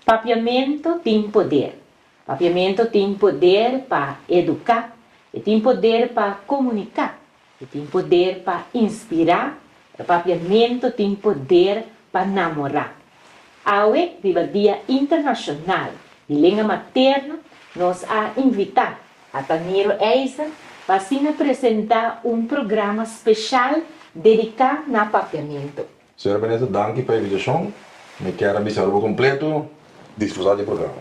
Papiamentu tin poder. Papiamentu tin poder pa eduká. E tin poder pa komuniká. E tin poder pa inspirá, e papiamentu tin poder pa namorá. Awe, riba Dia Internashonal di Lenga Materno, nos a invitá a Taniro Eisen pa asina presentá un programa speshal dediká na papiamentu. Señora Minister, danki pa e invitashon. Mi kier a bisa Aruba kompletu disfrutá di e programa.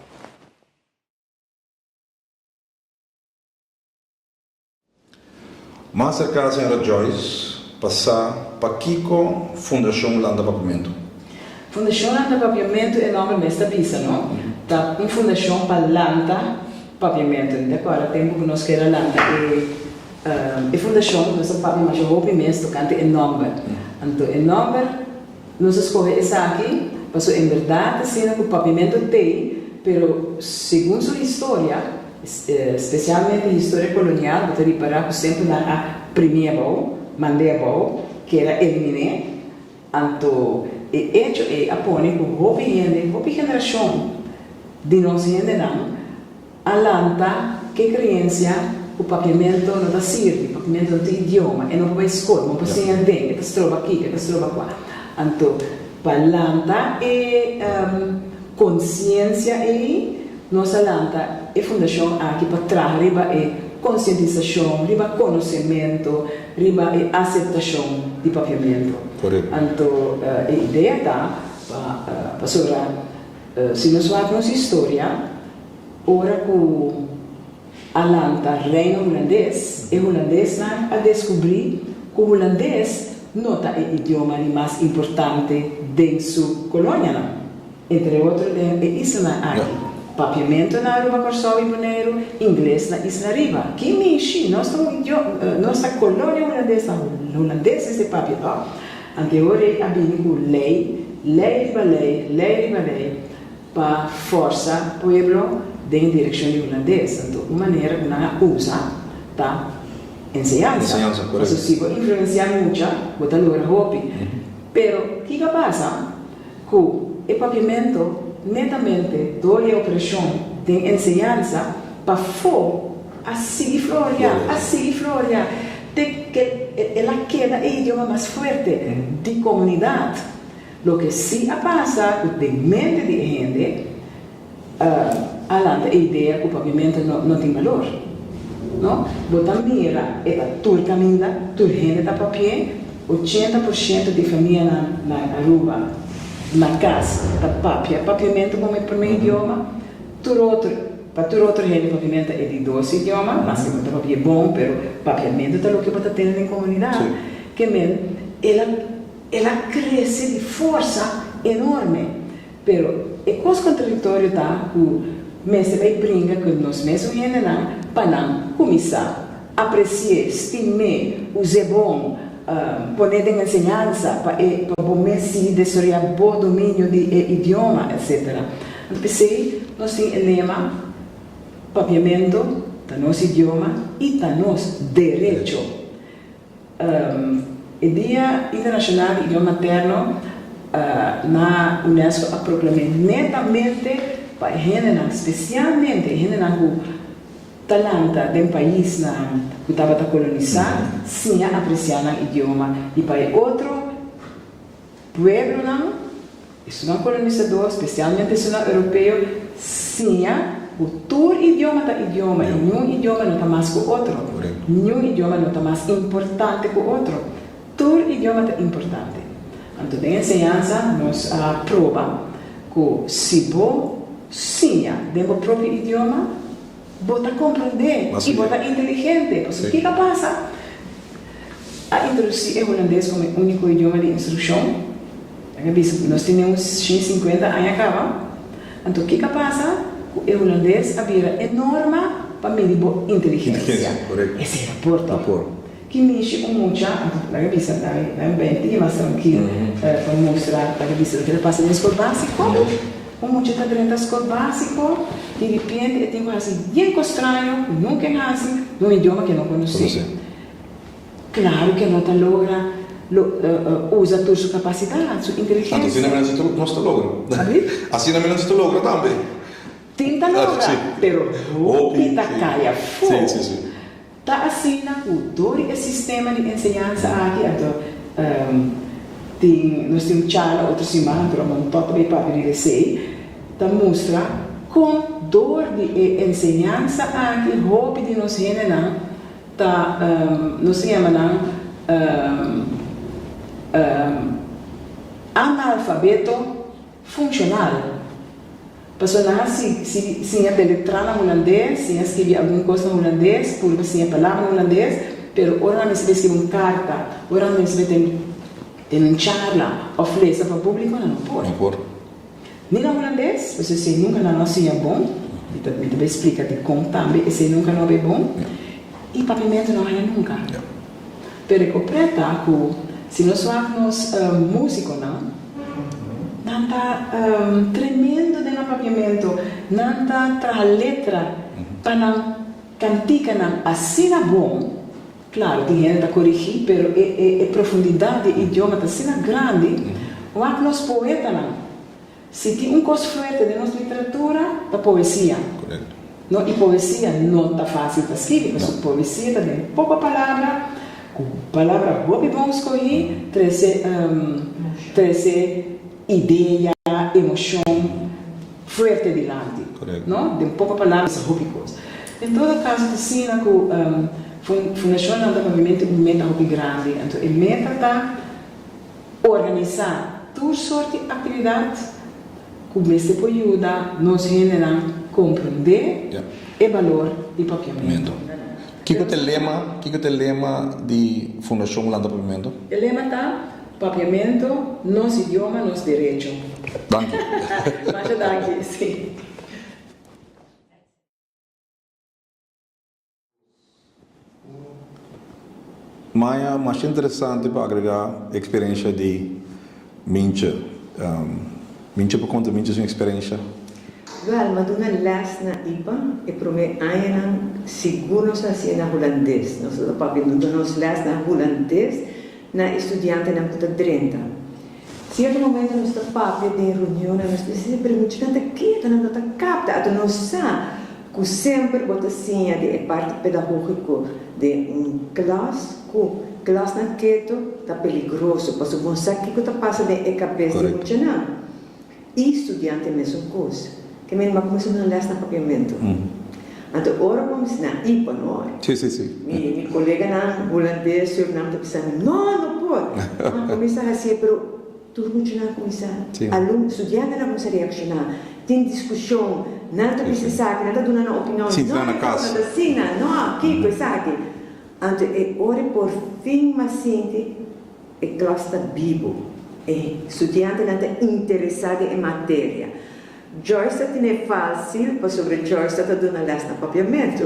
Mas a ka Sra. Joyce pa sa pakiko Fundashon lanta Papiamentu. Fundashon lanta Papiamentu, e nòmber mes ta bisa no, ta un fundashon pa lanta Papiamentu. Mi ta kòrda tempu ku nos keda a lanta e fundashon, nos a papia masha hopi mes tokante e nòmber. Anto e nòmber. Nos a scoge esaki paso en berdad asina cu Pavimento t'ey, pero segun su historia, specialmente historia colonial, bo ta ripara cu semper nan a primia bao, mandia bao, keda eliminé, anto e echo ey a pone cu hopi hende, hopi generacion di nos hendenan, A lanta ke kreensia ku papiamentu no ta sirbi, papiamentu no tin idioma, e no por bai skol, bo no por siña den, e ta stroba aki, e ta stroba akwa. Anto, pa lanta e konsiensia ei, nos a lanta e fundashon aki pa traha riba e konsientisashon, riba konosementu, riba e aseptashon di papiamentu. Anto, e idea ta pa pasobra. Si nos wak nos historia, ora ku a lanta Reino Hulandes, e hulandesnan a deskubrí ku hulandes no ta e idioma di mas importante den su kolonianan, entre otro den e islanan aki, Papiamento na Aruba, Kòrsou i Boneiru, ingles na Isla Riba. Ki minshi, nos ta un idioma, nos ta kolonia hulandes, ta hulandes mester papia tò. Antehoray a bini cu ley, ley riba ley, ley riba ley pa forsa pueblo den direccion di Hulandes. Anto un manera cu nan a usa ta enseñansa. Enseñansa, correcto. Pasobra si bo influencia mucha, bo ta logra hopi. Pero kico a pasa? Ku e papiamento netamente dor e opreshon den enseñansa pafó a sigui floriá, a sigui floriá te ke el a keda e idioma mas fuerte di komunidat. Loke sí a pasa ku den mente di e hende, a lanta e idea cu pavimento no tin balor. No, bo ta mira e ta tur caminda, tur hende ta papie, ochenta por shento di famianan na Aruba, na cas, ta papia pavimento como e prome idioma, tur otro, pa tur otro hende pavimento e di dos idioma, mas que bo ta papie bon, pero papiamento ta loke bo ta tene den comunidad, kemen el a, el a crece di forsa enorme. Pero e kos kontradiktorio ta ku mester bay pringa ku nos mesun hendenan pa nan kuminsá apresié, stim'é, us'é bon, pon'é den enseñansa pa e pa bo mes sigui desoroyá bo dominio di e idioma, etsetera. Anto p'esei nos tin e lema, Papiamento ta nos idioma i ta nos derecho. E Dia Internashonal di Idioma Materno na UNESCO a proklam'é netamente pa e hendenan, spesialmente e hendenan ku ta lanta den paisnan ku tabata kolonisá, siña apresiá nan idioma i pa e otro. Pueblonan, esunnan kolonisador, spesialmente esunnan Europeo, siña bo tur idioma ta idioma i niun idioma no ta mas ku otro. Niun idioma no ta mas importante ku otro. Tur idioma ta importante. Anto den enseñansa nos a proba ku si bo siña den bo propio idioma, Bo ta comprende y bo ta inteligente. Pasobra kico a pasa? A introduci e Hulandes como e unico idioma di instruccion. Nan a bisa, nos tin den un shin cincuenta aña caba. Anto kico a pasa? Cu e Hulandes a bira e norma pa midi bo inteligencia. Esey ta por tin. Ki mishi un mucha a duna? Laga bisa nai, nai un bende tin e mas trankil pa mustra. Laga bisa loke ta pasa den skol básiko. Un mucha ta drenta skol básiko i ripiente e tin ku hasi bien kos straño ku nunka e hasi den un idioma ku e no konosé. Klaru ku e no ta logra usa tur su kapasidat, su inteligensia. Anto asinami nos ta logra. Abi? Asinami nos ta logra tambe. Tin ta logra, pero hopi ta kai afu. Ta asina ku dor di e sistema di enseñansa aki anto tin nos tin un charla otro siman anto lo manda tòt bay papia di desey ta mustra kon dor di e enseñansa aki hopi di nos hendenan ta nos ta yama nan analfabeto. Funcional. Paso nan a si si siña ta letra na hulandes, siña a skirbi algun cos na hulandes, purba siña palabra na hulandes, pero ora nan mester skirbi un carta, ora nan mester ten ten un charla of lesa pa publico nan no por. Ni na hulandes, paso esey nunca nan a siña bon, mi ta mi ta bay splica dicon tambe esey nunca no a bay bon, y papimento no a haya nunca. Pero e copret ta cu si nos wak nos musiconan, nan ta tremendo den nan papiamento, nan ta traha letra pa nan canticanan asina bon, claro tin hende ta corigi, pero e profundidad di e idioma ta asina grandi, wak nos poetanan. Si tin un kos fuerte den nos literatura, ta poesia. Korekto. No, i poesia no ta fásil pa skibi, pasobra poesia ta den poko palabra, ku palabra hopi bon skohí, trese trese idea, emoshon fuerte dilanti. Korekto. No, den poko palabra bisa hopi kos. En todo kaso, ta asina ku Fundashon Lanta Pavimentu un meta hopi grandi. Anto e meta ta. Organisá tur sort di aktividat ku mester por yuda nos hendenan komprendé e balor di Papiamentu. Kiko ta e lema Kiko ta e lema di Fundashon Hulanda Papiamentu? E lema ta, Papiamentu, nos idioma, nos derecho. Danki. Masha danki, si. Maya mas interesante pa agrega e experiencia di Minche. Minche por conta Minche su experiencia. Wel, m'a duna les na ipa. E prome añanan sigur nos a hasié na hulandes. Nos lo ta papia duna nos les na hulandes na e studiantenan cu ta drenta. Sierto momento nos ta papia den reunionnan, nos bisa si primo chikanta keda nan ta kapta, ato nos sa ku semper bo ta siña di e parti pedagógiko den un klas ku klasnan keto ta peligroso, pasobra bo no sa kiko ta pasa den e kabes di muchanan. E studiante mesun cos. Ke men a cuminsa duna les na papiamento. Anto ora cu mi bisa nan i pa no. Mi coleganan hulandes, Surinam ta bisa mi, No, no por! Nan a cuminsa haci'e, pero tur muchanan cuminsa, alumno, studiantenan cuminsa reacciona, tin discusion, nan ta bisa esaki, nan ta duna nan opinion, No, e cosa no ta asina, no, kico esaki? Anto e ora e porfin m'a sinti. E klas ta bibu. E studiantenan ta interesá den e materia. Joyce ta tine fásil pasobra Joyce ta ta duna lès na papiamentu.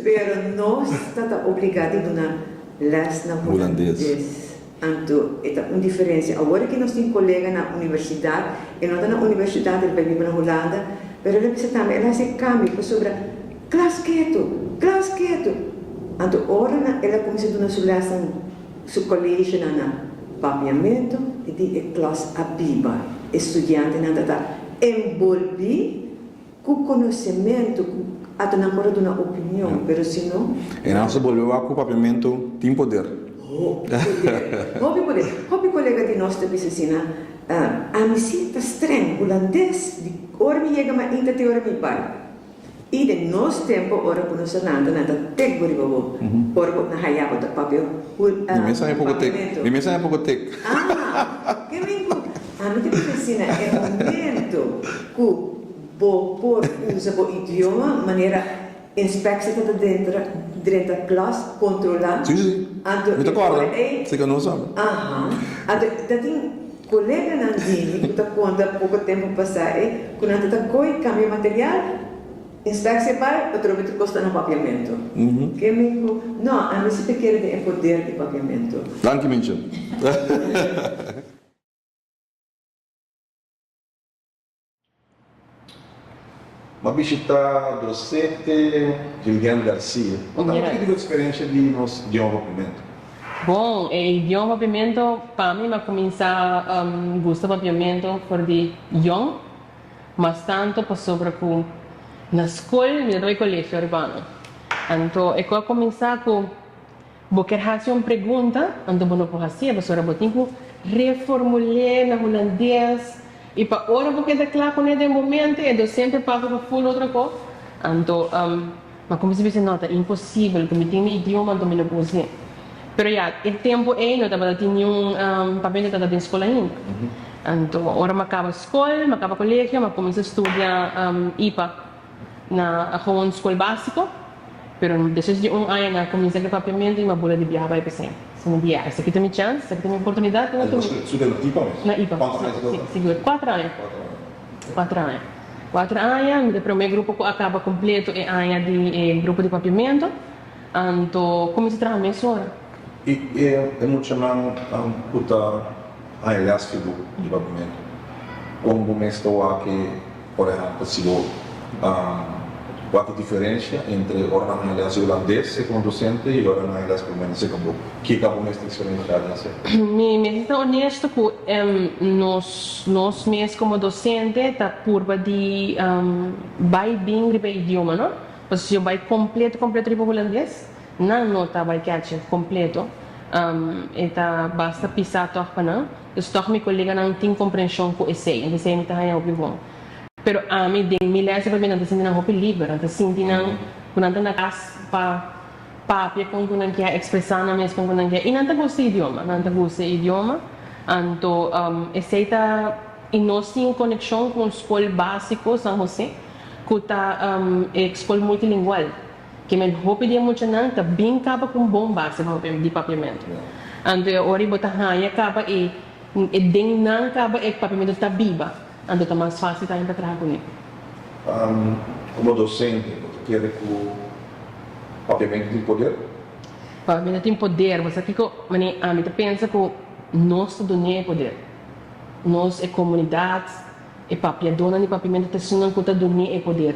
Pero nos ta ta obligá di duna lès na hulandes. Anto e ta un diferensia. Awor ki nos tin kolega na universidat, e no ta na universidat, el bai biba na Hulanda, pero el a bisa tambe, el a hasi e kambio pasobra klas ketu, klas ketu. Anto ora nan el a kuminsá duna su lèsnan. Su kolegionan na Papiamentu i di e klas Abiba e studiantenan tabata enbolbí ku konosementu ku ato nan por a duna opinion, pero si no. E nan su bolbe wak ku Papiamentu tin poder. Hopi poder. Hopi poder. Hopi kolega di nos ta bisa asina, Ami sí ta streng, hulandes, di ora mi yega mainta te ora mi bai. I den nos tempo ora ku nos hernanta nan ta tek bo riba bo, ora ku nan haya bo ta papia hul, ah, papiamentu. Mi mes a poko tek. Ah, ke men ku ami ta kere si na e momento ku bo por usa bo idioma manera inspeksha ta ta dentra drenta klas kontrola. Si, si, si. Mi ta kòrda. Anto e por ei. Sika nos. Aha. Anto ta tin. Koleganan Jimmy ku ta konta poko tempu pasá e ku nan ta ta koi kambia material, inspeksi e bai otro bit kosta na papiamentu. Ke mi ku, No, ami si ta kere den e poder di papiamentu. Danki Minchel. M'a bishitá Drosete Julian Garcia. Nos ta habla aki di bo eksperensia di nos idioma Pimento. Bon, e idioma Pimento pa mi m'a kuminsá gusta papiamento for di yòn, mas tantu pasobra ku na skol mi tabata e kolegio Urbano. Anto e ku a kuminsá ku. Bo kier hasi un pregunta, anto bo no por hasié pasobra bo tin ku reformul'é na hulandes i pa ora bo keda kla kuné den bo mente e dosente pasa ku ful otro ko. Anto, am, ma kuminsa bisa no, ta imposibel ku mi tin mi idioma anto mi no por hasié. Pero ya, e tempu ei no tabata tin niun, am, papel di tata den skol ainda. Anto, ora ma kaba skol, ma kaba kolegio, ma kuminsa studia, am, ipa. Na Agoon Skol Básiko, pero despues di un aña nan a kuminsá ku e papiamentu i mi a bula di biaha bai p'esei. Esei mi di, Esaki ta mi chans, esaki ta mi oportunidat ku mi ta bini. Su den na ipa mes? Na ipa. Kuantu aña ta dor? Si, sigur. Kuater aña. Kuater aña. Kuater aña. Kuater aña. Mi ta promé grupo ku a kaba kompletu e aña di e grupo di papiamentu. Anto kuminsá traha mes ora. I e muchanan ku ta haña lès ku bo di papimentu, kon bo mester wak-e ora e hanta si bo wak e diferensha entre ora nan haña lès hulandes segun un dosente i ora nan haña lès papimentu segun bo? Kiko bo mester eksperenshá den esei? Mi mester ta onesto ku nos mes komo dosente ta purba di bai bin riba e idioma, no? Pasobra si yo bai completo completo riba Hulandes nan no ta bai catchi completo e ta basta pisa tog pa nan dus tog mi coleganan tin comprension cu esey enta esey mi ta haya hopi bon pero ami den mi les de papinan ta sinti nan hopi liber nan ta sinti nan cu nan ta na cas pa papia con cu nan kier expresa nan mes con cu nan kier y nan ta gusta e idioma nan ta gusta e idioma anto esey ta y no sin coneccion cu un scol basico San Jose cu ta e scol multilingual, que men hopi di e muchanan ta bin caba cu un bon base di papiamento. Anto ora y bo ta haya caba e, e den nan caba e papiamento ta biba, anto ta mas facil tambe pa traha cu ne. Como docente, bo ta kere cu papiamento tin poder? Papiamento tin poder. Bo sa kico, mane? Ami ta pensa cu nos ta dun'é e poder. Nos, e comunidad. E papiadonan di papiamento ta singan cu ta durmi e poder.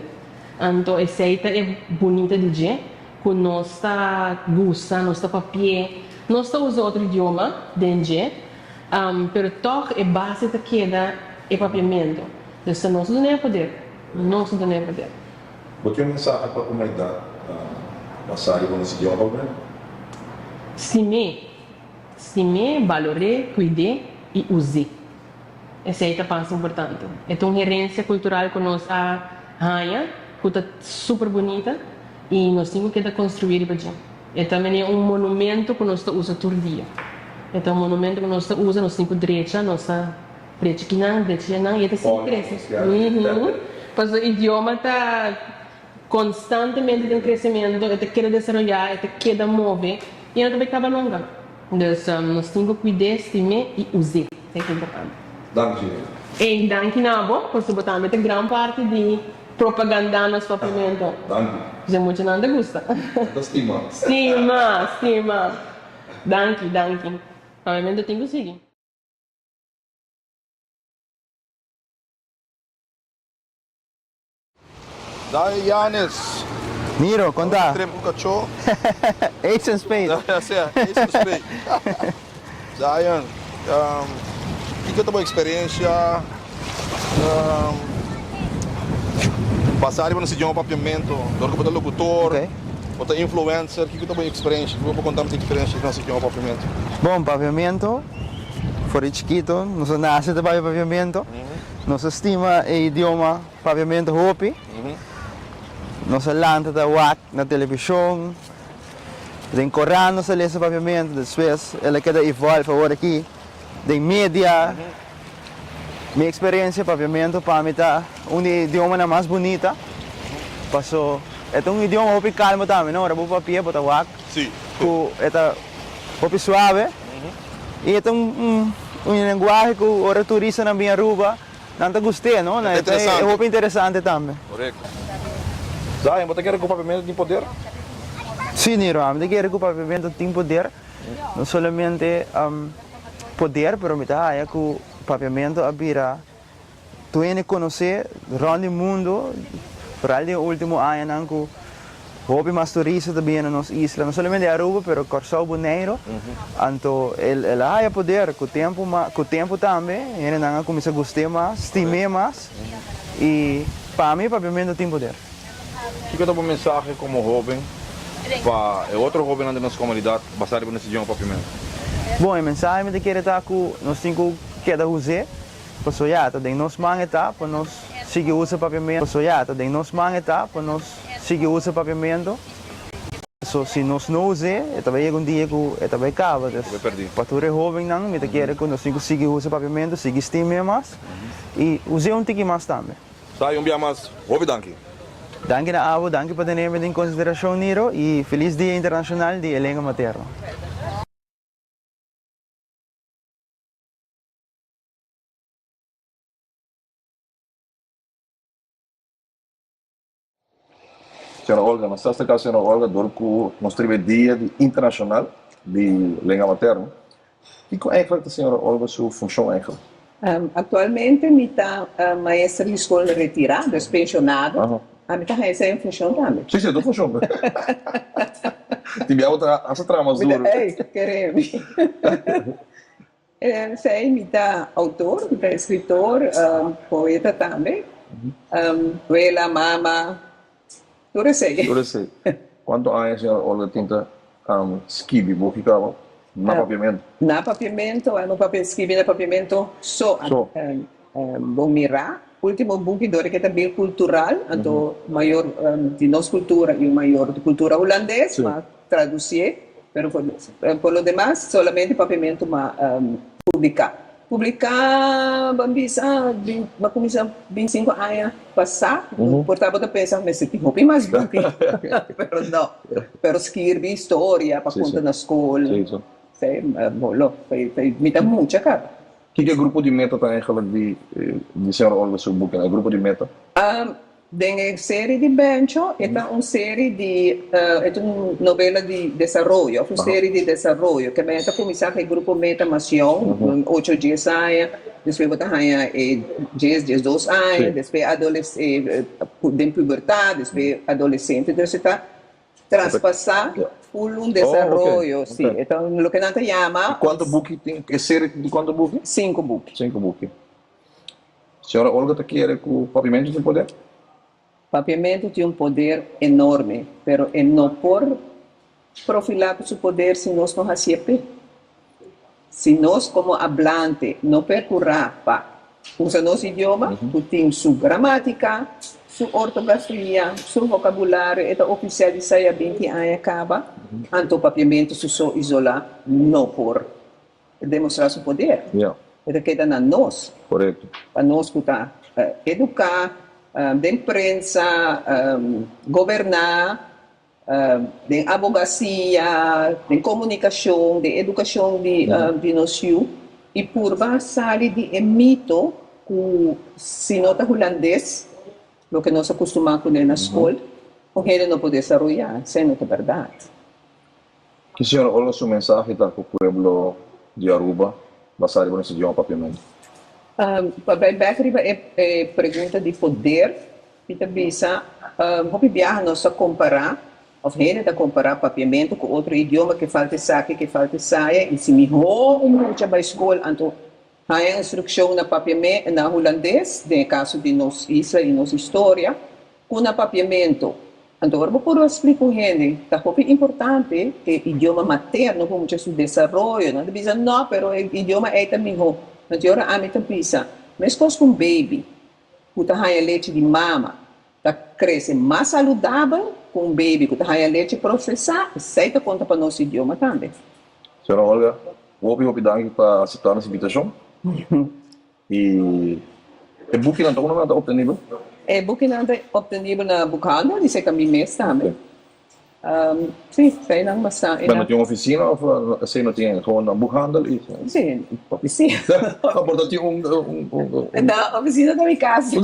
Anto esey ta e bunita di dje cu nos ta gusta, nos ta papi'e. Nos ta uza otro idioma den dje, pero toch e base ta keda e papiamento. Entonces ta nos ta duna e poder, nos ta duna e poder. Bo tin un mensahe pa humanidad basa riba nos idioma Ruben? Stim'é, stim'é, balor'é, cuid'é y uz'é. Esei ta pas importante. E ta un herensia kultural ku nos a haña ku ta super bunita i nos tin ku keda konstruí riba dje. E ta mene un monumentu ku nos ta usa tur dia. E ta un monumentu ku nos ta usa, nos tin ku drecha, nos ta drecha kinan, drecha yanan i e ta sigui krese. Paso idioma ta. Konstantemente den kresementu, e ta keda desaroyá, e ta keda move i e no ta bai kaba nunka. Dus, nos tin ku kuid'é, stim'é i us'é. Esei ta importante. Danki Ray. Ey, danki na abo, pasobra bo tambe ta gran parti di propagandá nos papiamentu. Danki. P'esei muchanan ta gusta. Nan ta stima. Stima, stima. Danki, danki. Papiamentu tin ku sigui. Dai Yanes. Miro, konta. Ora ta tremp un kachó. Ace of spade. Ya, ya sea, ace of spade. Dayan, ehm, kiko ta bo eksperensia, ehm, basá riba nos idioma papiamento? Dor ku bo ta lokutor, Oké. bo ta influencer, kiko ta bo eksperensia? Kiko bo konta nos eksperensia di nos idioma papiamento? Bon, papiamento, for di chikito nos a nase ta papia papiamento. Nos a stima e idioma. Papiamento hopi. Nos a lanta ta wak na televishon, den koran nos a lesa papiamento, despues el a keda evolve awor aki den media. Mi eksperensia, papiamento pa mi ta un di e idiomanan mas bunita, paso e ta un idioma hopi kalmo tambe, no? Ora bo papia, bo ta wak ku e ta hopi suave i e ta un lenguahe ku ora turistanan bin Aruba. Nan ta gust'é, no? Nan ta e hopi interesante tambe. Korekto. Zion, bo ta kere ku Papiamento tin poder? Sí, Niro. Ami ta kere ku Papiamento tin poder. No solamente poder, pero mi ta haña ku Papiamento a bira dueño di konosé rònt di mundu, foral den e último añanan ku. Hopi mas turista ta bini na nos isla, no solamente Aruba pero Corsou, Boneiro, anto el a haya poder cu tempo mas, cu tempo tambe hendenan a cuminsa guste mas, stime mas y pa mi papiamento tin poder. Kico ta bo mensahe como hoben pa e otro hobennan den nos comunidad basa riba nos idioma papiamento? Bon, e mensahe mi ta kere ta cu nos tin cu keda huze. Pasobra ya ta den nos man e ta pa nos sigui usa papiamento. Pasobra ya ta den nos man e ta pa nos sigui usa papiamento. So si nos no usa e, e ta bay yega un dia cu e ta bay caba. Nos ta bay perdi. Pa tur e hobennan mi ta kere cu nos tin cu sigui usa papiamento, sigui stimia mas y usa un tiki mas tambe. Sa y un bia mas, hopi danki. Danki na abo, danki pa teneme den consideracion Niro y feliz Dia Internacional di e Lenga Materno. Sra. Olga, nos ta sta ka Sra. Olga dor ku nos triba e Dia di Internashonal di Lenga Materno. Kiko eigenlik ta Sra. Olga su funshon eigenlik? Aktualmente mi ta maester di skol retirá, dus penshonado. A mi ta haña esei un funshon tambe. Sí, sí, dos funshon. Tin bia bo ta hasi traha mas duru. Mi ta, ey, kere mi. Esei mi ta outor, mi ta escritor, poeta tambe, abuela, mama, tur esei. Tur esei. Cuanto aña siñora Olga tinta skibi bo kikaba na papiamento? Na papiamento, anu papia skibi na papiamento so. So. Bo mira ultimo buki dor ke ta bin cultural, anto mayor di nos cultura y un mayor di cultura hulandes, ma Traducié, pero por por lo demas solamente papiamento ma publicá. Publicá ban bisa bin ba cuminsá bin cinco aña pasá, por ta bo ta pensa bo mester tin hopi mas buki, pero no. Pero skirbi historia pa cunta na scol, ta e bo lo ta e mi ta mucha caba. Kiko e grupo di meta ta eigenlijk di di señor Olga su buki nan? E grupo di meta? Den e seri di Bencho e ta un seri di e ta un novela di desaroyo òf un seri di desaroyo ke mester kuminsá ku e grupo meta mas yon ocho dies aña despues bo ta haña e dies dies dos aña despues adoles den pubertat despues adolesente entonces e ta traspasá ful un desaroyo si e ta loke nan ta yama. Kuantu buki tin e seri di kuantu buki? Sinku buki. Sinku buki. Señora Olga ta kere cu Papiamento tin poder? Papiamento tin un poder enorme, pero e no por profila cu su poder si nos no hacié pe. Si nos como hablante no percurá pa usa nos idioma, cu tin su gramática, su ortografia, su vocabulario e ta oficial di saya binti aña caba, anto Papiamento su so isolá no por ta demostrá su poder. E ta keda na nos. Pa nos ku ta eduká den prensa, goberná, den abogasia, den komunikashon, den edukashon di nos yu, i purba sali di e mito ku si no ta hulandes, loke nos a kustumá ku lei na skol, un hende no por desaroyá. Esei no ta bèrdat. Ki señor Holmes su mensahe ta ku pueblo di Aruba basá riba nos idioma papiamento? Pa bai bek riba e pregunta di poder, mi ta bisa hopi biaha nos ta kompará òf hende ta kompará papiamento ku otro idioma, ke falta esaki, ke falta esaya, i si mihó un mucha bai skol anto. Haña instrukshon na papiamento na hulandes, den e kaso di nos isla i nos historia, ku na papiamento. Anto ora bo por splika un hende ta hopi importante e idioma materno pa mucha su desaroyo, nan ta bisa, No, pero e idioma ei ta mihó. Anto ora ami ta bisa, meskos ku un beibi ku ta haña lechi di mama, Ta krese mas saludabel ku un bebi ku ta haña leche prosesá, esei ta konta pa nos idioma tambe. Señora Olga, hopi hopi danki pa aseptá nos invitashon. I e bukinan ta unda nan ta optenibel? E bukinan ta optenibel na Boekhandel i serka mi mes tambe. Um, sí, fei nan masá. Pero no tin un oficina of así no tin gewoon dan boekhandel y. Sí, oficina. no, pero tin un, un, un, un. No, oficina ta mi casa.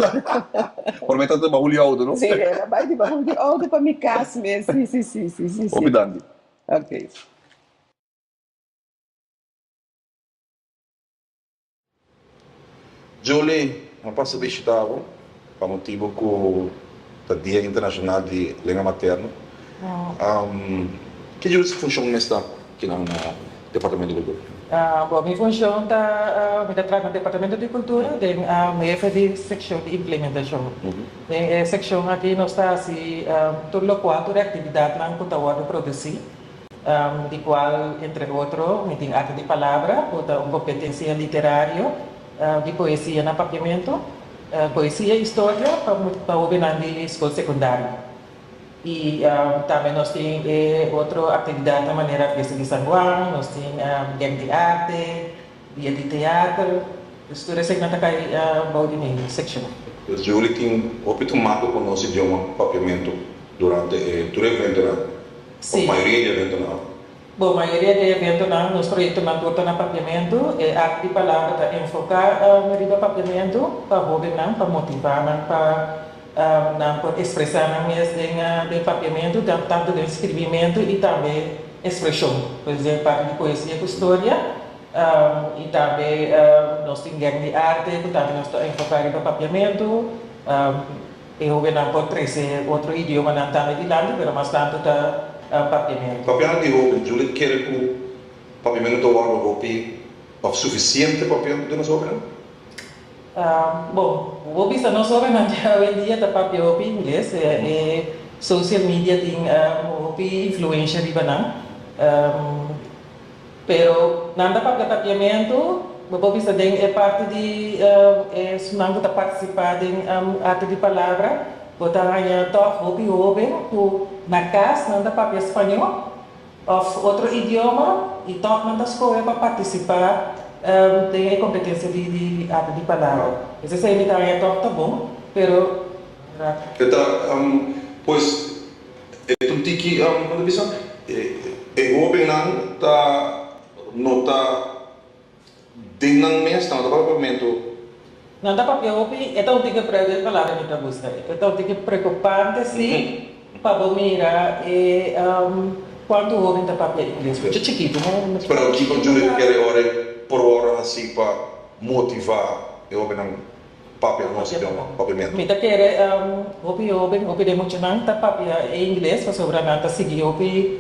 por me ta bajo li auto, no? Sí, era bai di bajo di auto pa mi casa mes. Sí, sí, sí, sí, sí. Hopi danki. Okay. Julie, M'a pasa bishita bo pa motibu ku ta Dia Internashonal di Lenga Materno. Ke djul su funshon mes ta kinan na Departamento di Kultura? Bo, Mi funshon ta, mi ta traha na Departamento di Kultura den hefe di sekshon di implementashon. Den e sekshon aki nos ta hasi tur lokual, tur e aktividatnan ku ta wòrdu produsí. di cual, entre otro, mi tin Arte di Palabra, cu ta un competencia literario di poesia na Papiamento, Poesia y Historia pa hobennan di School Secundario. Y tambe nos tin e otro actividadnan manera Fiesta di San Juan, nos tin Gek di Arte, Dia di Teater, dus tur eseinan ta cay bou di mi seccion. Julie tin hopi tumando cu nos idioma Papiamento durante e tur eventonan. Bo mayoria di eventonan. Bo mayoria di eventonan, nos proyektonan tur ta na papiamentu. E Art di Palabra ta enfoká riba papiamentu pa hóbennan, pa motivá nan pa nan por ekspresá nan mes den papiamentu, tantu den skirbimentu i tambe ekspreshon. Por ehèmpel, parti di poesia ku storia i tambe nos tin gèk di arte ku tambe nos ta enfoká riba papiamentu. E hóbennan por trese otro idiomanan tambe dilanti, pero mas tantu ta Papiamento. Papianan di hóben Juliet kere ku Papiamento ta wòrdu hopi òf sufisiente Papiamento den nos hóbennan? Bon, bo bisa nos hóbennan di awendia ta papia hopi ingles. E social media tin hopi influensha riba nan. Pero nan ta papia papiamentu, bo por bisa den e parti di esunnan ku ta partisipá den Arte di Palabra, bo ta haña tòg hopi hóben ku na kas nan ta papia spañó òf otro idioma i tòg nan ta skohe pa partisipá den e kompetensia di Arte di Palabra. Pues esei mi ta haña tòg ta bon, pero. Ke ta, pues. E tu tiki a un ta bisa e hoben nan ta no ta den nan mes nan no ta para pa momento. Nan ta papia hopi e ta un tiki preu di e palabra mi ta buska ey e ta un tiki preocupante si pa bo mira e cuanto hoben ta papia ingles mucha chikitu no pero kico juda e ta kere ora e probo a hasi pa motiva e hoben nan. papia nos idioma pa bimentu. Mi ta kere hopi hoben, hopi den muchanan ta papia e ingles pasobra nan ta sigui hopi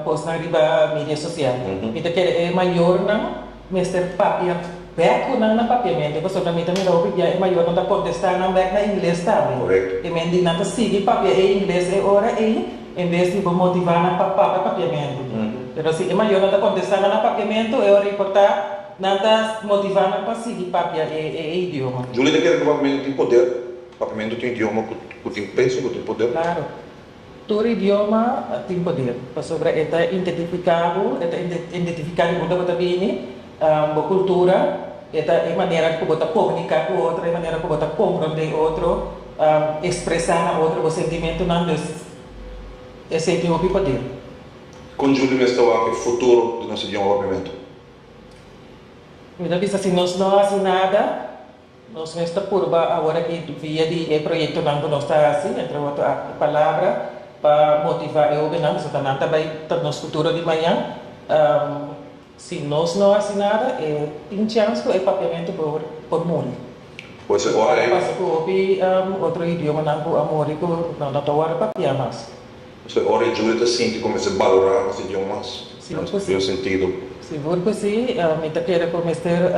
kosnan riba media sosial. Mi ta kere e mayornan mester papia bèk ku nan na papiamentu pasobra mi ta mira hopi bia e mayornan ta kontestá nan bèk na ingles tambe. E men di nan ta sigui papia e ingles e ora ei en bes di bo motivá nan pa papia papiamentu. Pero si e mayornan ta kontestá nan na papiamentu e ora ei por ta. Nan ta motivá nan pa sigui papia e idioma. Julie ta kere ku papiamentu tin poder. Papiamentu ta un idioma ku tin peso, ku tin poder. Klaru. Tur idioma tin poder, pasobra e ta intetifiká bo, e ta intetifiká di unda bo ta bini, bo kultura, e ta e manera ku bo ta komuniká ku otro, e manera ku bo ta komprondé otro, ekspresá na otro bo sentimentunan. Dus, esei tin hopi poder. Kon Julie mester wak e futuro di nos idioma papiamentu? Mi ta bisa si nos no hasi nada, nos mes ta purba awor aki via di e proyektonan ku nos ta hasi, entre otro aki palabra pa motivá e hobennan pasobra nan ta bai ta nos futuro di mañan. Si nos no hasi nada e tin chèns ku e Papiamentu por muri. Por eso ora ei. Lo pasa ku hopi otro idiomanan ku a muri ku no ta wòrdu papiá mas. Pasobra ora e juda ta sinti ku mester balorá nos e Dios mas, nos ta purba un sentido. Sigur ku si. Mi ta kere ku mester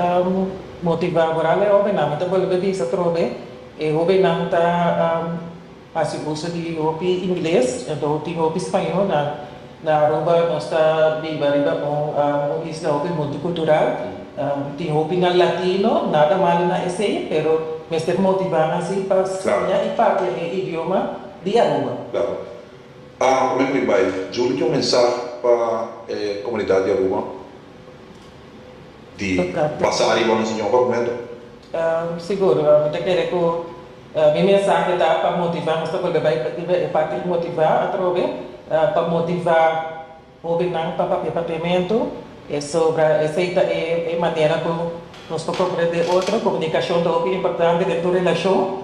motivá boral e hobennan. Mi ta bolbe bisa atrobe, e hobennan ta hasi uso di hopi ingles, enton tin hopi spañó. Na na Aruba nos ta biba riba un isla hopi multikultural. Tin hopinan latino, nada malu na esei, pero mester motivá nan si pa siña i papia e idioma. di Aruba. Claro. A Comer Riba hay juli ki un mensah pa e comunidad di Aruba di basa ariba nos Señor pa cumento? Seguro. Mi ta kere cu mi mensahe ta pa motiva nos ta bolbe bay pa tin bay e parti di motiva atrobe pa motiva. Hobennan ta papia papiamentu, pasobra esei ta e manera ku nos por komprende e otro. Komunikashon ta hopi importante den tur relashon.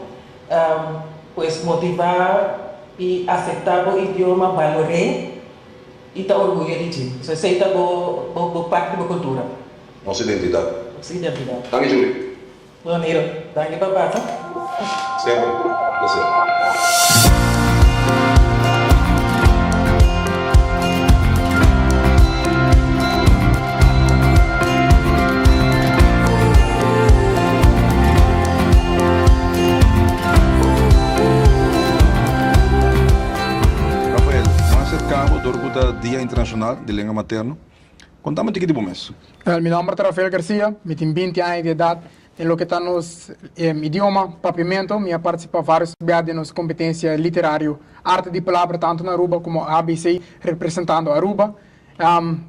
Pues motivá i aseptá bo idioma, balor'é i ta orguyo di dje. So esei ta bo parti di bo kultura. Nos identidat. Nos identidat. Tami Julie. Manera, danki pa baka. Siempre, un placer. Rafael, mas sercabo dor cu ta Dia Internacional di Lengua Materno. Kontame tiki di bo mes. Wèl, mi nòmber ta Rafael Garcia, mi tin binti aña di edat. Den loke ta nos idioma, Papiamento, mi a partisipá vários bia den nos kompetensia literario Arte di Palabra tantu na Aruba komo ABC representando Aruba.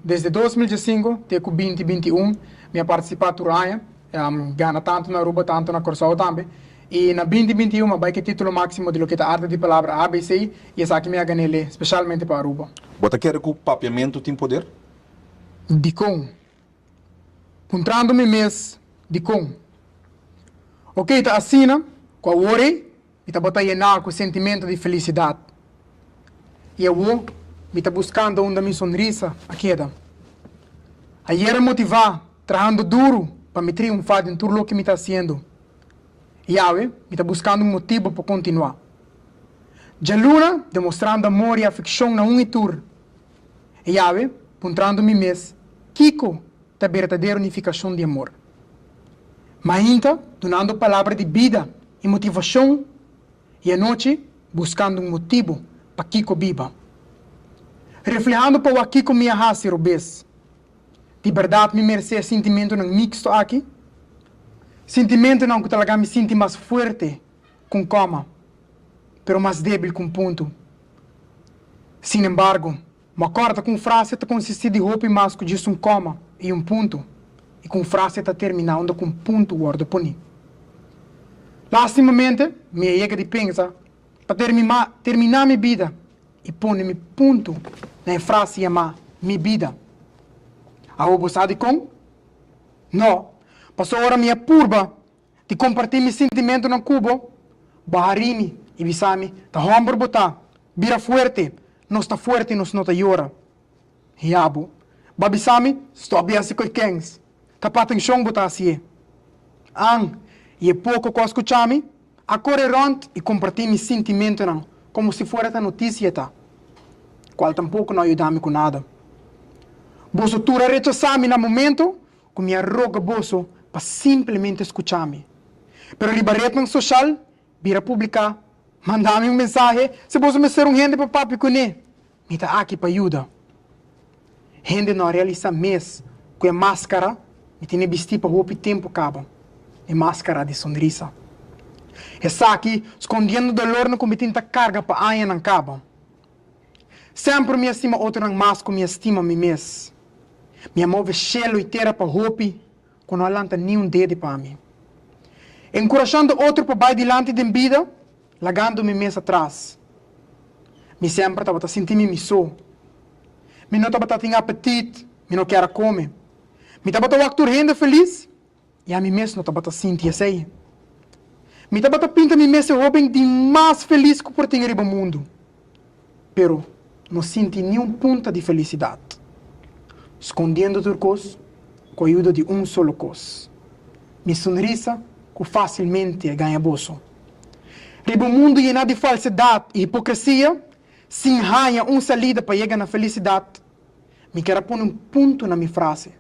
Desde dos mil diesinko te ku binti binti un mi a partisipá tur aña. E a gana tantu na Aruba tantu na Corsou tambe. I na binti binti i un a bai ke titulo maximo di loke ta Arte di Palabra ABC i esaki mi a gané lé specialmente pa Aruba. Bo ta kere ku papiamentu tin poder? Dikon? Puntrando mi mes, Dikon? Oke, ta asina ku awor ei. Mi ta bota yená ku sentimentu di felisidat, i awo mi ta buskanta unda mi sonrisa a keda. Ayera motivá trahando duru pa mi triunfá den tur loke mi ta hasiendo, i awe mi ta buskando un motibu pa kontinuá. Djaluna demostrando amor i afekshon na un i tur. E Yahwe, puntrando mi mes, Kiko ta berdadero nifikashon di amor? Mainta, dunando palabra di bida i motivashon, i anochi, buskando un motibu pa kiko biba. Reflehando pa wak kiko mi a hasi robes, di berdad mi meresé e sintimentunan miksto aki? Sintimentunan ku ta laga mi sinti mas fuerte ku un koma, pero mas debil ku un puntu. Sin embargo, bo a korda ku un frase ta konsistí di hopi mas ku djis un koma i un puntu, i ku un frase ta terminá unda ku un puntu wòrdu puní. Lástimamente, mi a yega di pensa pa terminá mi bida i pone mi puntu na e frase yamá mi bida. Awo bo sa dikon? Nò, pasobra mi a purba. di kompartí mi sintimentunan ku bo, bo harini i bisami, Ta hòmber bo ta, bira fuerte, nos ta fuerte, nos no ta yora. Ya bo ba bisami, Stòp di hasi koikens, ta pa atenshon bo ta hasi e. An, i e poko ku a skucha mi, a kore rònt i kompartí mi sintimentunan komo si fuera ta notisia ta, kual tampoko no a yuda mi ku nada. Boso tur a rechasá mi na momentu ku mi a roga boso pa simplemente skucha mi. Pero riba retnan soshal bira publiká, manda mi un mensahe si boso mester un hende pa papia kuné. Mi ta aki pa yuda. Hende no a realisá mes ku e máskara mi tene bistí pa hopi tempu kaba, e máskara di sonrisa. Esaki skondiendo dolornan ku mi tin ta karga pa añanan kaba. Semper mi a stima otronan mas ku mi a stima mi mes. Mi a move shelu i tera pa hopi ku no a lanta niun dede pa mi. Enkurashando otro pa bai dilanti den bida, lagando mi mes atras. Mi semper tabata sinti mi mi so. Mi no tabata tin apetit, mi no kier a kome. Mi tabata wak tur hende felis. I ami mes no tabata sinti esei. Mi tabata pinta mi mes e hóben di mas felis ku por tin riba mundu. Pero no sinti ni un punta di felisidat. Skondiendo tur kos ku ayuda di un solo kos, mi sunrisa ku fásilmente a gaña goso. Riba un mundu yená di falsedat i hipokresia, sin haña un salida pa yega na felisidat, Mi kier a pone un punto na mi frase,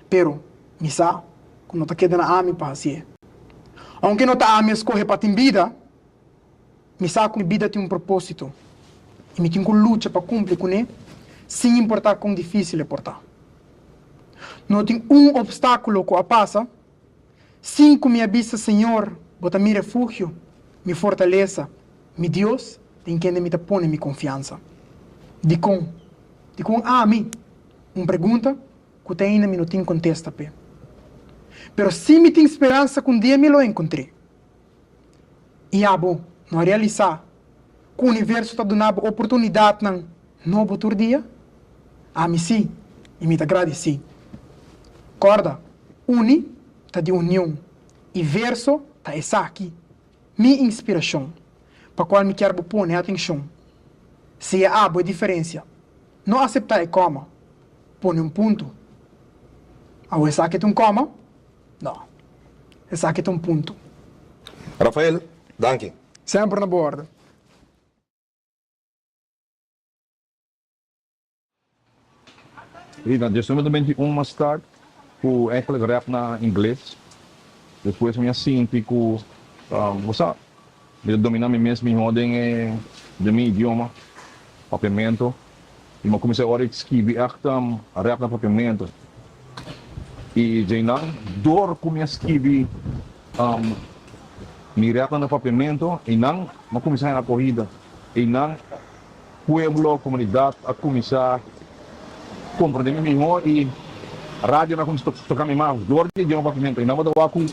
pero mi sa cu no ta keda na ami pa haci'e. Aunke no ta ami a scoge pa tin bida, mi sa cu mi bida tin un proposito y mi tin cu lucha pa cumpli cun'e sin importa con dificil e por ta. No tin un obstaculo cu a pasa. Sinku mi a bisa, Señor, Bo ta mi refugio, mi fortalesa, mi Dios, den kende mi ta pone mi konfiansa. Dikon? Dikon ami? Un pregunta ku te ainda mi no tin kontesta p'e. Pero si mi tin speransa ku un dia mi lo enkontr'é. I abo no a realisá ku universo ta duna bo oportunidatnan nobo tur dia? Ami sí, i mi ta gradisí. Kòrda, Uni ta di union, i verso ta esaki, mi inspirashon, pa kual mi kier bo pone atenshon. Si e abo e diferensia, no aseptá e kòma, pone un puntu. Awor esaki ta un kòma? No. Esaki ta un punto. Rafael, danki. Semper na bo orden. Rita, dje suma ta benti un mas start ku enkele rap na ingles. Despues mi a sinti ku bo sa. Mi ta domina mi mes mihó den e den mi idioma, Papiamento, i mi a kuminsá ora di skibi èkta rèp na Papiamento. I dje nan, dor ku mi a skibi mi rèpnan na Papiamento, einan mi a kuminsá hel akohida. Einan. Pueblo, comunidad a cuminsa comprende mi miho y radio na cuminsa toca mi mas dor di e idioma papiamento y nan por ta wacu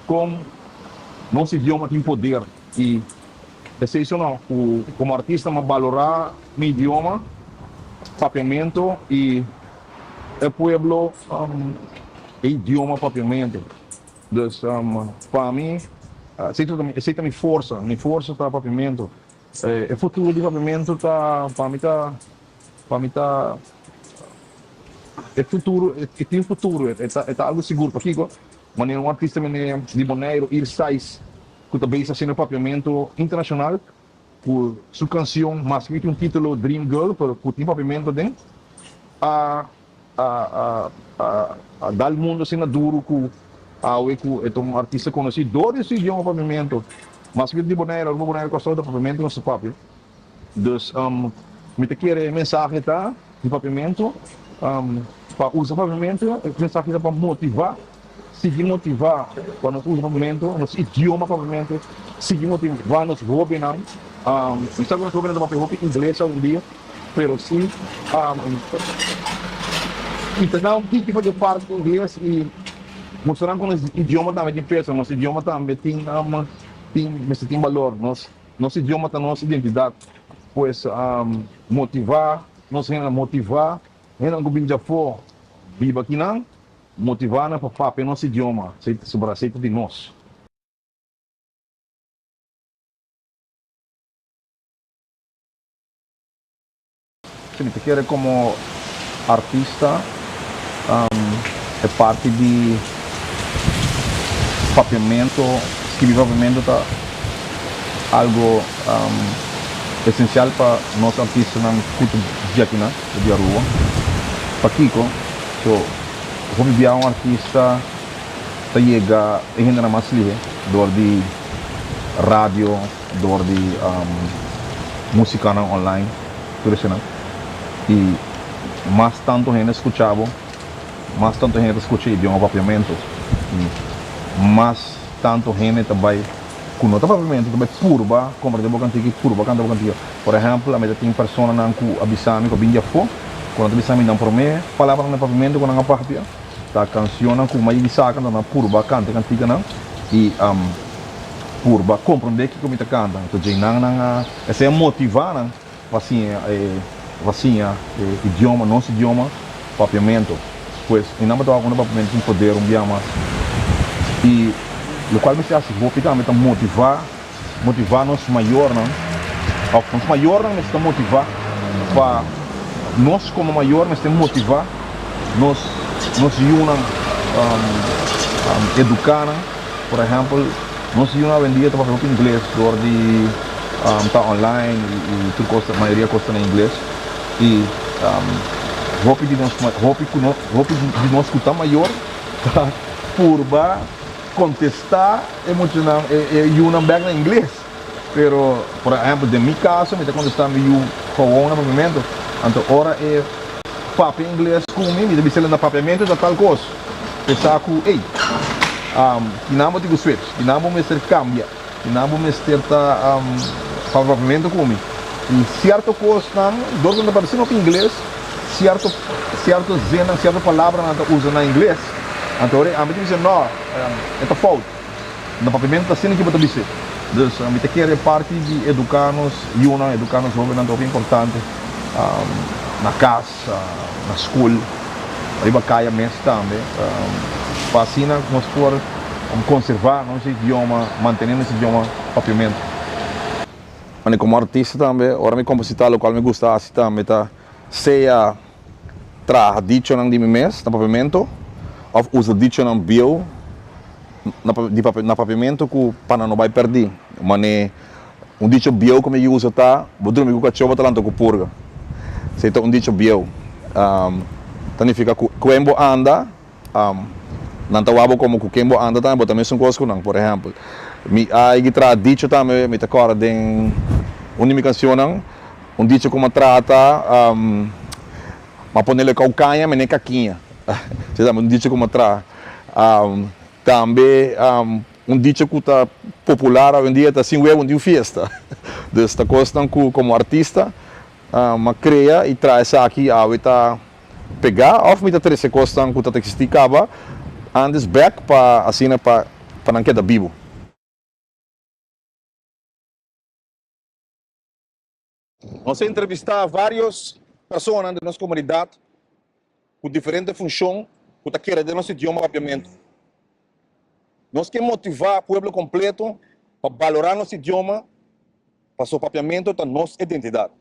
con nos idioma tin poder y esey so no cu como artista m'ha balora mi idioma papiamento y e pueblo e idioma papiamento dus pa mi esey ta mi forsa mi forsa ta papiamento. E futuro di Paviamentu ta pa mi ta pa mi ta e futuro e tin futuro e ta e ta algo sigur pakiko manera un artista mende di Boneiru Iris Tais ku ta bes haciendo papiamentu internacional ku su cancion maske ku tin un titulo Dream Girl pero ku tin papiamentu aden a a a a a dal mundo así na duro cu awe cu e ta un artista conoci dor di su idioma papiamento mas que di Bonaire aruba Bonaire Costal ta papiamento na su papi dus um mi ta kere e mensahe ta di papiamento um pa usa papiamento e mensahe ta pa motiva. Sigui motivá pa nos usa papiamento, nos idioma papiamento, sigui motivá nos hóbennan. Mi sa ku nos hóbennan ta papia hopi ingles aundia, pero si i ta na un tiki fasi parti di ingles i mustra nan ku nos idioma tambe tin peso, nos idioma tambe tin tin mester tin balor. Nos idioma ta nos identidat. Pues motivá nos hendenan, motivá hendenan ku bini dj'afó biba aki nan. Motivá nan pa papia nos idioma, pasobra asei ta di nos. Si mi ta kere komo artista e parti di papiamentu, skirbi papiamentu ta algu esensial pa nos artistanan ku ta dje akinan. Bo di Aruba? Pakiko? So, hopi bia un artista ta yega e hendenan mas lihe dor di radio, dor di musicanan online, tur eshinan. Y mas tanto hende scucha bo, mas tanto hende ta scucha e idioma Papiamento y mas tanto hende ta bay cu no ta Papiamento ta bay purba comparti bo cantiki, purba canta bo cantiki. Por ehèmpel, ami ta tin personanan ku a bisa mi ku a bin di afó. Ku nan ta bisa mi nan promé palabranan den papimentu ku nan a papia ta kansionnan ku mai mi saka, anto nan a purba kanta e kantikanan i purba komprondé kiko mi ta kanta. Anto dje nan nan a esei a motivá nan pa siña e pa siña e idioma, nos idioma papiamentu. Pues mi nan tabata unda papiamentu tin poder un bia mas i lokual mester hasi hopi tambe ta motivá Motivá nos mayornan, òf nos mayornan mester motivá pa nos komo mayor mester motivá nos nos yunan, eduká nan. Por ehèmpel, nos yunan awendia ta papia hopi ingles dor di ta online i tur kos ta mayoria kos ta na ingles i hopi di nos hopi ku nos hopi di nos ku ta mayor ta purba. Contesta e muchanan e e yunan bek na ingles pero por ehemplo den mi caso mi ta contesta mi yu gewoon na momento anto ora e papia ingles cu mi mi ta bisala na papiamento ta tal cos pesa cu ey kinan bo tin cu switch kinan bo mester cambia. I nan bo mester ta favorablemente ku mi. I sierto kosnan, dor ku nan ta parse nok ingles, sierto sierto zinnan, sierto palabranan ta usa na ingles, anto ora ami ta bisa, no, e ta fout. Nan papiamento ta asina ke bo ta bis'é. Dus mi ta kere parti di eduká nos yunan, eduká nos hóbennan ta hopi importante na kas. Sa na school riba caya mes tambe pa asina nos por conserva nos idioma mantene nos idioma papiamento. Mane como artista tambe ora mi composita locual mi gusta haci tambe ta sea traha dichonan di mi mes na papiamento of usa dichonan bieuw na papiamento cu pa nan no bay perdi mane Un dicho bieu ku mi ke usa ta, Bo drumi ku kachó bo ta lanta ku purga. Si ei ta un dicho bieu. Ta nifika ku kuen bo anda, nan ta wak bo komo ku ken bo anda tambe, bo ta mesun kos ku nan. Por ehèmpel, mi a higi traha dicho tambe, mi ta kòrda den un di mi kanshonnan, un dicho ku mi a traha ta, Mi a ponel ekau kaña, mi n'e kakiña. Esei tambe un dicho ku mi a traha. Tambe Un dicha cu ta popular awendia ta sin huevo niu fiesta. Dus ta cosnan cu como artista m'a crea y traha esaki awe ta pega of mi ta trece cosnan cu ta existi caba antes bek pa asina pa pa nan keda bibu. Nos a entrevistá vários persona den nos komunidat ku diferente funshon ku ta kere den nos idioma Papiamentu. Nos ke motivá pueblo kompleto pa balorá nos idioma pasobra Papiamentu ta nos identidat.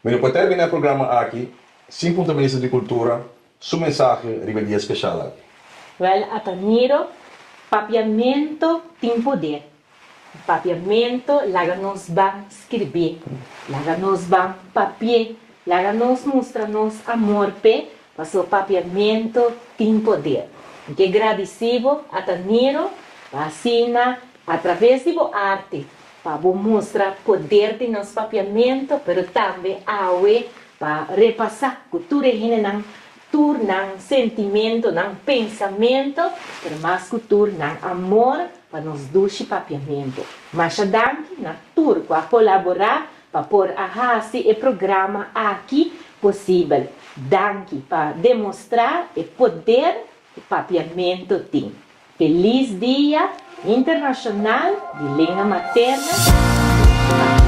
Mi no por terminá e programa aki sin punta Minister di Kultura su mensahe riba e dia speshal aki. Wèl, ata Niro, papiamentu tin poder. Papiamentu laga nos ban skirbé, laga nos ban papié, laga nos mustra nos amor p'e. Paso papiamento tin poder. Mi ke gradisi bo ata Niro pa asina a traves di bo arte pa bo mustra poder di nos papiamento pero tambe awe pa repasa ku tur e hendenan tur nan sentimentonan, pensamento pero mas ku tur nan amor pa nos dushi papiamento. Masha danki na tur ku a kolabora. Pa por a hasi e programa aki posibel. Danki pa demostrá e poder ku Papiamentu tin. Felis Dia Internashonal di Lenga Materna i Papiamentu!